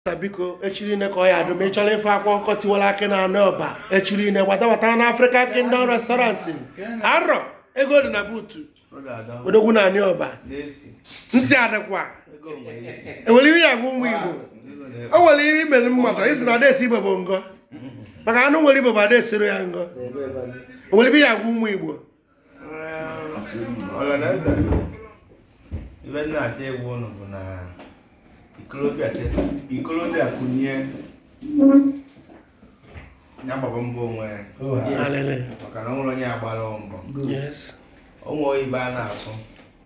biko echi niine ka ọ ya adụ ma ị chọrọ ife akwa ọkụkọ tiwara akị na anị Ọba echi niine gbatagbata na African Kingdom restaurant arọ ego dị na buutu odogwu na anị Ọba ntị adịkwa enwere ihe ya bụ ụmụ Igbo o nwere ihe imere mmadụ isi na adaesi ibe bụ ngọ maka anụ nwere ibe bụ adaesiro ya ngọ o nwere ihe ya bụ ụmụ Igbo ọlanaeze ibe m na-achọ ịgwa ụnụ bụ na ikolobịa teta ikolobịa kunie ya gbaba mbọ onwe ya Hallelujah. maka na o nwerọ onye agbara mbọ Yes. o nwere ibe a na-asụ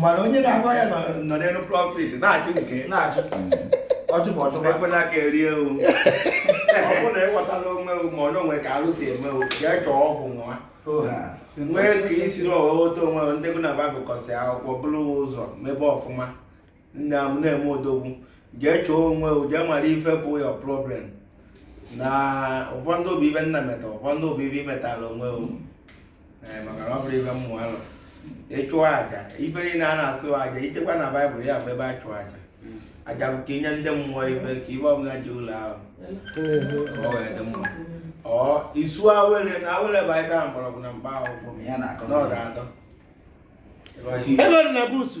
mana onye na-agwa ya nọ n'elu prophet na-achụ nke na-achụ ọjụbụ ọjụbụ ekwela ka e rie o ọ bụrụ na ịghọtala onwe o ma onye onwe ka arụ si eme o jee chọọ ọgwụ nwa nwee ka i siri ghọta onwe ndị bụ na ba gụkọsị akwụkwọ bụrụ ụzọ mebe ọfụma nna m na-eme odogwu jee chọọ onwe o jee mara ife bụ your problem na ụfọdụ ọ bụ ibe nna meta ụfọdụ ọ bụ ibe i metala onwe o eh, maka na ọ bụrụ ibe mmụọ alụ ịchụ aja ife niile a na-achụ aja ichekwa na baịbụl ya bụ ebe a chụọ aja aja bụ ka inye ndị mmụọ ife ka ibe ọbụla ji ụlọ ahụ ọ wee dị mma ọ isu awele na awele bụ anyị gara mgbọrọgwụ na mkpa akwụkwọ n'ọdụ atọ ego dị na buutu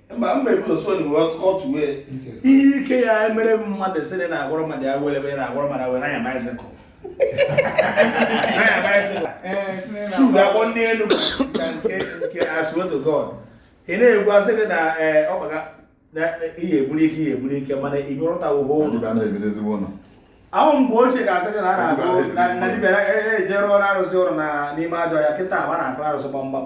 mba mba ebuzo so ni otu wee ihe ike ya emere mmadụ sị na agwọrọ mmadụ ya were ebe na agwọrọ mmadụ were anya bicycle anya bicycle shuga eh, akpọ ndị elu ka nke nke I swear to God ị na-ekwu asị gị na eh, ọkpaga na ihe egburu ike ihe egburu ike mana ị bịarụtawo ụlọ ahụ mgbe ochie ga-asị gị na a na-agụ na dibịa ejere ọrụ arụsị ụrụ n'ime ajọ ọhịa kịta agba na-akụ arụsị gbamgbam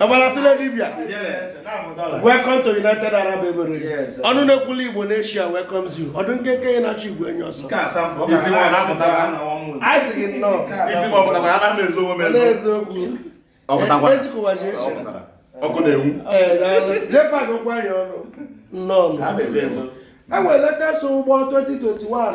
Ọgbalatụle dibia welcome to United Arab Emirates ọnụ na-ekwulu Igbo n'Asia welcomes you ọdụ nkenke enyi na-achụ igwe enyi ọsọ anyị sị gị nnọọ n'eziokwu ezikụwa ji echi ọkụ na-enwu jepak okwu anyị ọnụ nnọọ enwere latest ụgbọ 2021